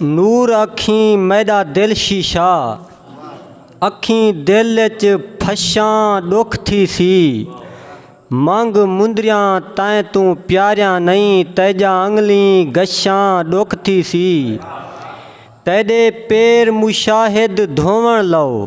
نور اکھیں میݙا دل شیشہ اکھیں دل اچ پھشاں ݙکھ تھی سی منگ مندریاں تیں توں پیاریاں نئیں تیجا انگلیں گشاں ݙکھ تھی سی تیݙے پیر مشاہد دھووݨ لو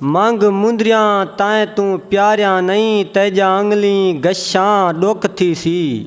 منگھ مندریاں تائیں توں پیاریاں نئیں تیجا انگلیں گشاں ڈک تھیسی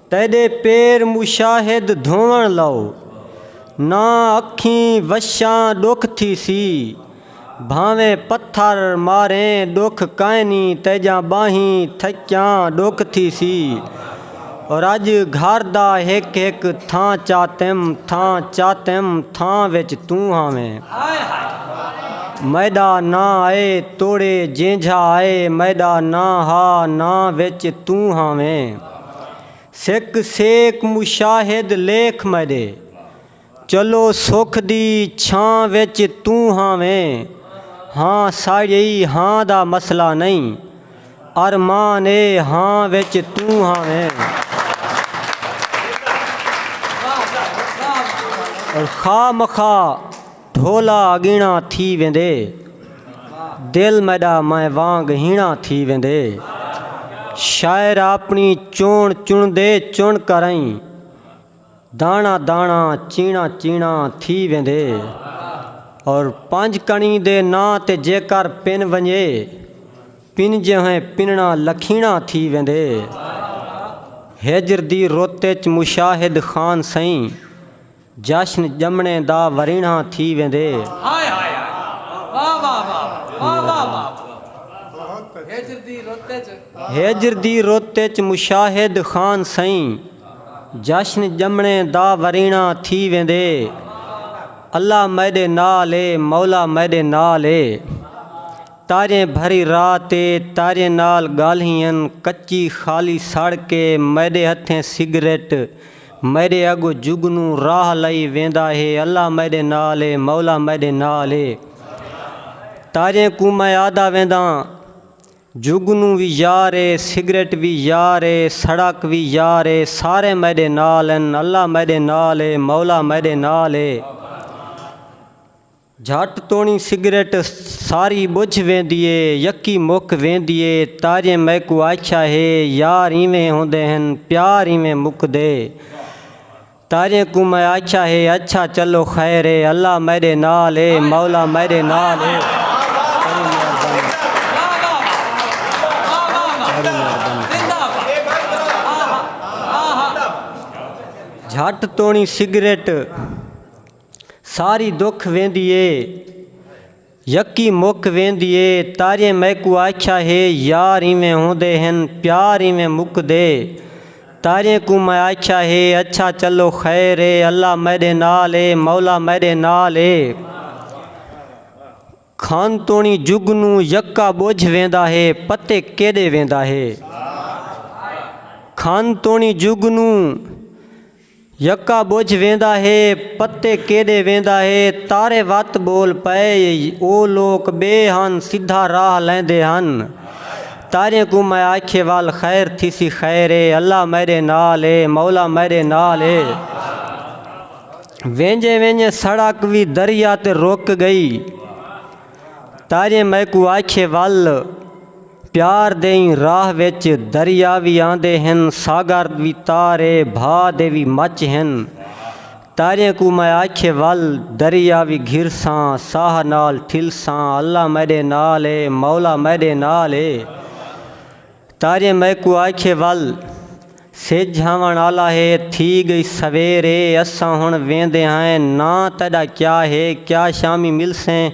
تیڈے پیر مشاہد دھوون لو ناں اکھیں وشاں ڈک تھیسی بھانویں پتھر ماریں ڈک کائنی تیجا باہیں تھکیاں ڈک تھیسی۔ رڄ گھر دا ہک ہک تھاں چاتم تھاں چاتم تھاں وچ توں ہاویں میݙا ناں اے توڑے جینجھا اے میݙا ناں ہا ناں وچ توں ہاویں سک سیک مشاہد لیکھ میݙے چلو سکھ دی چھاں وچ توں ہاویں ہاں ساڑیئی ہاں دا مسئلہ نئیں ارمان اے ہاں وچ توں ہاویں خواہ مخواہ ڈھولا اگینا تھی ویندے دل میڈا میں وانگ ہینا تھی ویندے شاعر اپنی چون چندے چن کرئیں داݨا داݨا چیݨا چیݨا تھی ویندے اور پنج کݨی دے ناں تے جیکر پن ونڄے پنجیہیں پنݨا لکھیݨا تھی ویندے ہجر دی رت اچ مشاہد خان سئیں جشن ڄمݨے دا وریݨا تھی ویندے ہجر دی رت اچ مشاہد خان سئیں جشن ڄمݨے دا وریݨا تھی ویندے۔ اللہ میݙے نال اے مولا میݙے نال اے۔ تاریاں بھری رات اے تاریاں نال ڳالھیں ہن کچی خالی سڑک اے میݙے ہتھیں سگریٹ میݙے اڳوں جگنو راہ لئی ویندا ہے اللہ میݙے نال اے مولا میݙے نال اے تاریاں کوں میں آہدا وینداں۔ جگنو وی یار اے سگریٹ وی یار اے سڑک وی یار اے سارے میڈے نال ہن اللہ میڈے نال اے مولا میڈے نال اے جھٹ توڑیں سگریٹ ساری بجھ ویندی اے یکی مک ویندی اے تاجیں میکوں آکھیا ہے یار ایویں ہوندے ہن پیار ایویں مکدے۔ تاجیں کوں میں آکھیا ہے اچھا چلو خیر اے اللہ میڈے نال اے مولا میڈے نال اے تیڈی مہربانی تیڈی مہربانی جھٹ تونی سگریٹ ساری دکھ ویندی اے۔ یکی مک ویندی اے۔ تاریئیں میکوں آکھیا ہے یار ایویں ہوندے ہن پیار ایویں مکدے۔ تاریئیں کوں میں آکھیا ہے اچھا چلو خیر اے اللہ میڈے نال اے مولا میڈے نال اے۔ کھن توڑیں جگنوں یکا بجھ ویندا ہے پتے کیڈے ویندا ہے۔ کھن توڑیں جگنوں۔ یکا ٻجھ ویندا ہے پتے کیݙے ویندا ہے تارے وت ٻول پئے او لوک ٻئے ہن سدھا راہ لیندے ہن تاریاں کوں میں آکھیے ول خیر تھیسی خیر اے اللہ میݙے نال اے مولا میݙے نال اے ویندے ویندے سڑک وی دریا تے رک ڳئی تاریاں میکوں آکھیے ول پیار دئیں راہ وچ دریا وی آندے ہن ساگر وی تار اے بھا دے وی مچ ہن تاریاں کوں میں آکھیے ول دریا وی گھرساں ساہ نال ٹھلساں اللہ میڈے نال اے مولا میڈے نال اے تاریاں میکوں آکھیے ول سجھ آوݨ آلا ہے تھی ڳئی سویر اے اساں ہݨ ویندے ہئیں ناں تیݙا کیا ہے کیا شامی ملسیں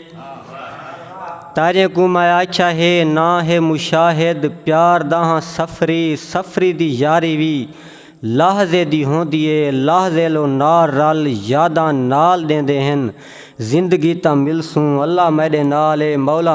تاریاں کوں میں آکھیا ہے ناں ہے مشاہد پیار دا ہاں سفری سفری دی یاری وی لحظے دی ہوندی اے لحظے لو نال رل یاداں نال ݙیندے ہن زندگی تاں ملسوں اللہ میݙے نال اے مولا